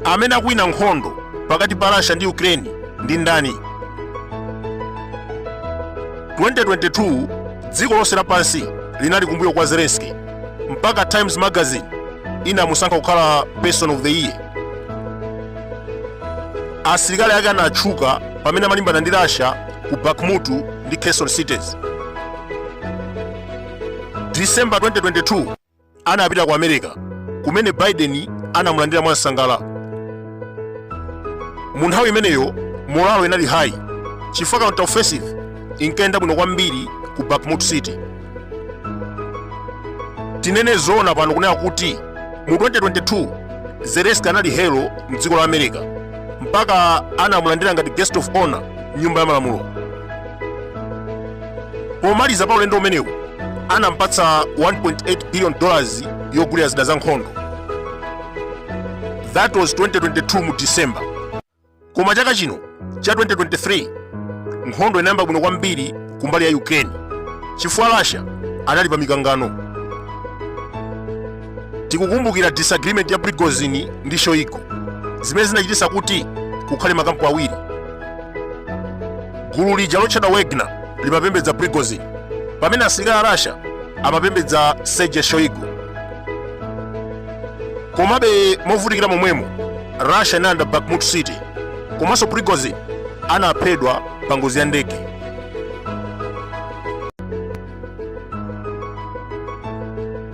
amene akuwina nkhondo pakati pa russia ndi ukraine ndi ndani 2022 dziko lonse lapansi linali kumbuyo kwa zelensky mpaka times magazine inamusankha kukhala person of the year asilikali ake anatchuka pamene amalimbana ndi Russia ku Bakhmut ndi Kherson cities. December 2022 anapita ku America kumene Biden anamulandira mwansangala. Mu nthawi imeneyo morale inali high chifukwa counter offensive inkayenda bwino kwambiri ku Bakhmut city. tinene zoona pano kunena kuti mu 2022 zelensky anali hero mdziko la america mpaka anamulandira ngati guest of honor mnyumba ya malamulo pomaliza pa ulendo umenewu anampatsa 1.8 billion yogulira zida za nkhondo that was 2022 mu december Koma chaka chino cha 2023 nkhondo inayamba bwino kwambiri kumbali ya Ukraine chifukwa Russia anali pa mikangano. Tikukumbukira disagreement ya Prigozhin ndi Shoigu zimene zinachititsa kuti kukhale makampu awiri. Gulu lija lotchedwa Wagner limapembedza Prigozhin pamene asilikali a Russia amapembedza Sergei Shoigu. Komabe movutikira momwemo Russia inalanda Bakhmut City komanso Prigozhin anaphedwa pa ngozi ya ndege.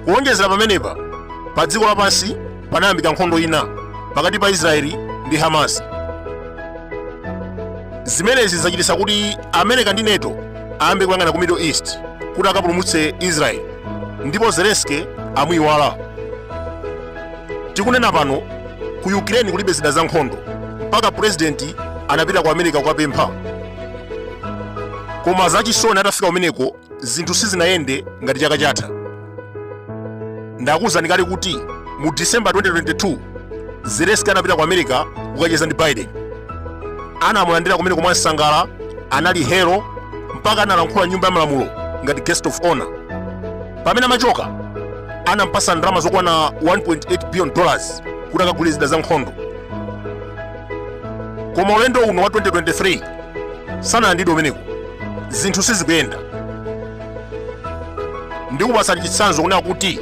Kuwonjezera pamenepa, pa dziko lapansi panayambika nkhondo ina pakati pa Israeli ndi Hamas. Zimenezi zachititsa kuti America ndi NATO ayambe kuyang'ana ku Middle East kuti akapulumutse Israeli ndipo Zelensky amuyiwala. tikunena pano ku ukraine kulibe zida za nkhondo mpaka purezidenti anapita ku america kukapempha koma zachisoni atafika kumeneko zinthu sizinayende ngati chaka chatha ndakuwuzani kale kuti mu december 2022 zelensky anapita ku america kukacheza ndi biden anamulandira kumeneko mwansangala anali hero mpaka analankhula mnyumba ya malamulo ngati guest of honor pamene amachoka anampasa ndalama zokwana 1.8 billion dollars kuti akagule zida za nkhondo koma ulendo uno wa 2023 sanalandidwe umeneko zinthu sizikuyenda ndikupasani chitsanzo kunena kuti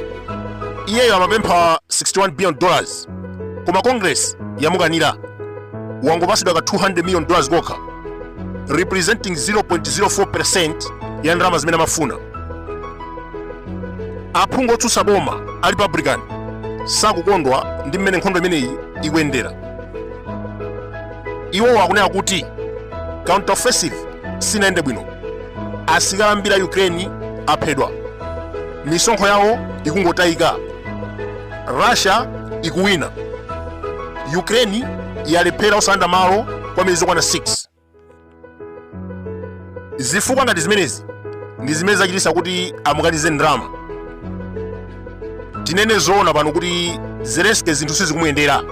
iyeyo amapempha 61 billion dollars koma congress yamukanira wangopasidwa ka 200 million dollars kokha representing 0.04 ya ndalama zimene amafuna aphungu otsutsa boma a republican sakukondwa ndi mmene nkhondo imeneyi ikuyendera iwowo akunena kuti counter offensive sinayende bwino asilikali ambiri a ukraine aphedwa misonkho yawo ikungotayika russia ikuwina ukraine yalephera osalanda malo kwa miyezi yokwana 6 zifukwa ngati zimenezi ndi zimene zachitisa kuti amukanize ndalama tinene zoona pano kuti zelensky zinthu sizikumuyendera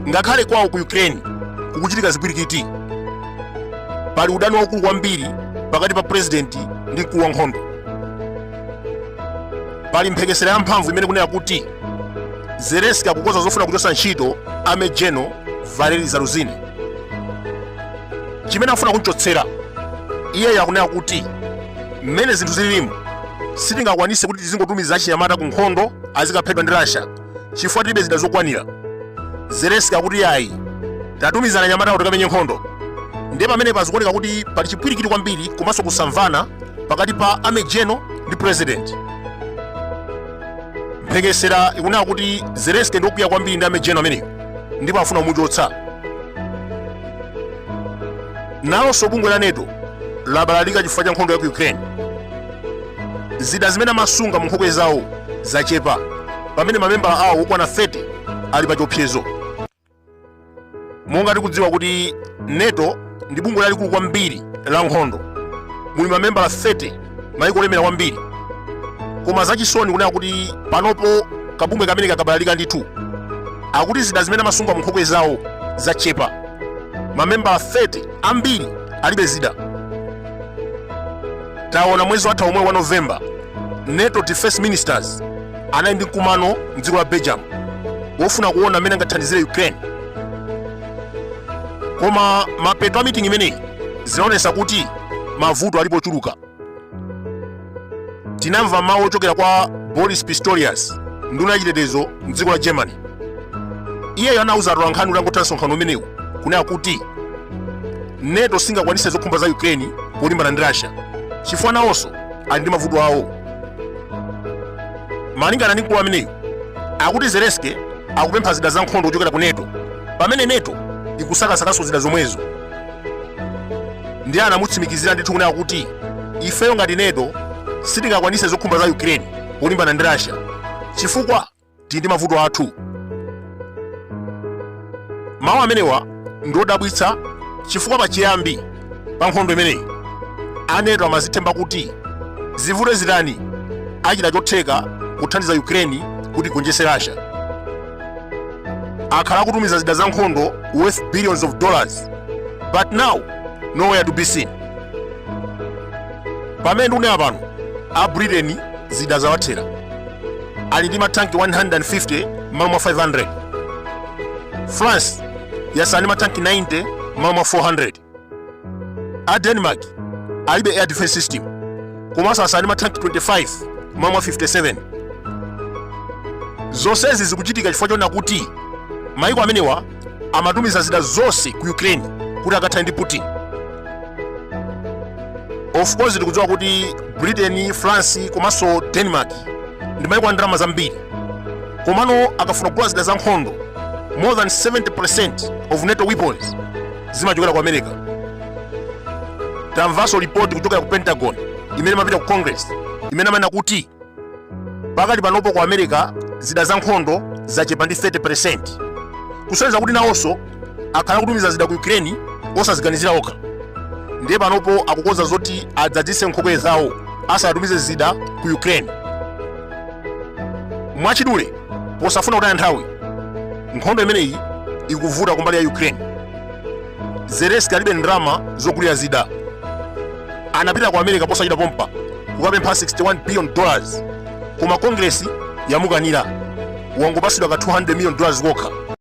ngakhale kwawo ku ukraine kukuchitika zipwirikiti pali udani waukulu kwambiri pakati pa purezidenti ndi mkulu wa nkhondo pali mphekesera ya mphamvu imene kunena kuti zelenski akukonza zofuna kuchotsa ntchito army general valery zaluzhny chimene afuna kunchotsera iyeyo akunena kuti mmene zinthu zililimu sitingakwanise kuti tizingotumiza achinyamata ku nkhondo azikaphedwa ndi russia chifukwa tilibe zida zokwanira zelensky akuti yayi tatumiza anyamata kuti tikamenye nkhondo ndiye pamenepa zikuoneka kuti pali chipwirikiti kwambiri komanso kusamvana pakati pa army general ndi president mphekesera ikunena kuti zelensky ndi okwiya kwambiri ndi army general ameneyo ndipo afuna kumuchotsa nalonso bungwe la nato labalalika chifukwa cha nkhondo ya ku ukraine zida zimene amasunga mu nkhokwe zawo zachepa pamene mamembala awo okwana 30 ali pa chiopsezo monga tikudziwa kuti nato ndi bungwe lalikulu kwambiri la nkhondo muli mamembala 30 maiko olemera kwambiri koma zachisoni kunena kuti panopo kabungwe kameneka kabalalika ndithu akuti zida zimene amasunga munkhokwe zawo zachepa mamembala 30 ambiri alibe zida taona mwezi watha omwewu wa novemba nato defense ministers anali ndi mkumano mdziko la belgium wofuna kuona mmene angathandizire ukraine koma mapeto a mitingi imeneyi zinaonesa kuti mavuto alipo chuluka tinamva mawu ochokera kwa boris pistorius nduna yachitetezo mdziko la germany iyeyo anauza atolankhani utangotha msonkhano umenewu kunena kuti neto singakwanise zokhumba za ukraine polimbana ndi russia chifukwa nawonso ali ndi mavuto awo malingana ndi mkulu ameneyu akuti zelenski akupempha zida za nkhondo kuchokera ku neto pamene neto ikusakasakanso zida zomwezo ndiye anamutsimikizira ndithu kunena kuti ifeyo ngati neto sitingakwanise zokhumba za ukraine polimbana ndi russia chifukwa tili ndi mavuto athu mawu amenewa ndiodabwitsa chifukwa pachiyambi pa nkhondo imeneyi aneto amazithemba kuti zivute zitani achita chotheka kuthandiza ukraine kuti igonjetse russia akhala akutumiza zida za nkhondo worth billions of dollars but now nowhere to be seen pamene ndikunena pano a britain zida zawathera ali ndi matanki 150 mmalo mwa 500 france yasala ndi matanki 90 m'malo mwa 400 a denmark alibe air defense system komanso asala ndi matanki 25 m'malo mwa 57 zonsezi zikuchitika chifukwa chonena kuti maiko amenewa amatumiza zida zonse ku ukraine kuti akathane ndi putin of course tikudziwa kuti britain france komanso denmark ndi maiko a ndalama zambiri komano akafuna kugula zida za nkhondo more than 70% of nato weapons zimachokera ku america tamvanso lipoti kuchokera ku pentagon imene imapita ku congress imene amanena kuti pakali panopo ku america zida za nkhondo zachepa ndi 30% kusonyeza kuti nawonso akhala akutumiza zida ku ukraine osaziganizira okha ndiye panopo akukonza zoti adzadzise nkhokwe zawo asanatumize zida ku ukraine mwachidule posafuna kutaya nthawi nkhondo imeneyi ikuvuta kumbali ya ukraine zelenski alibe ndalama zogulira zida anapita ku america posachedwa pompa kukapempha 61 billion dollars koma kongresi yamukanira wangopatsidwa ka 200 million dollars kokha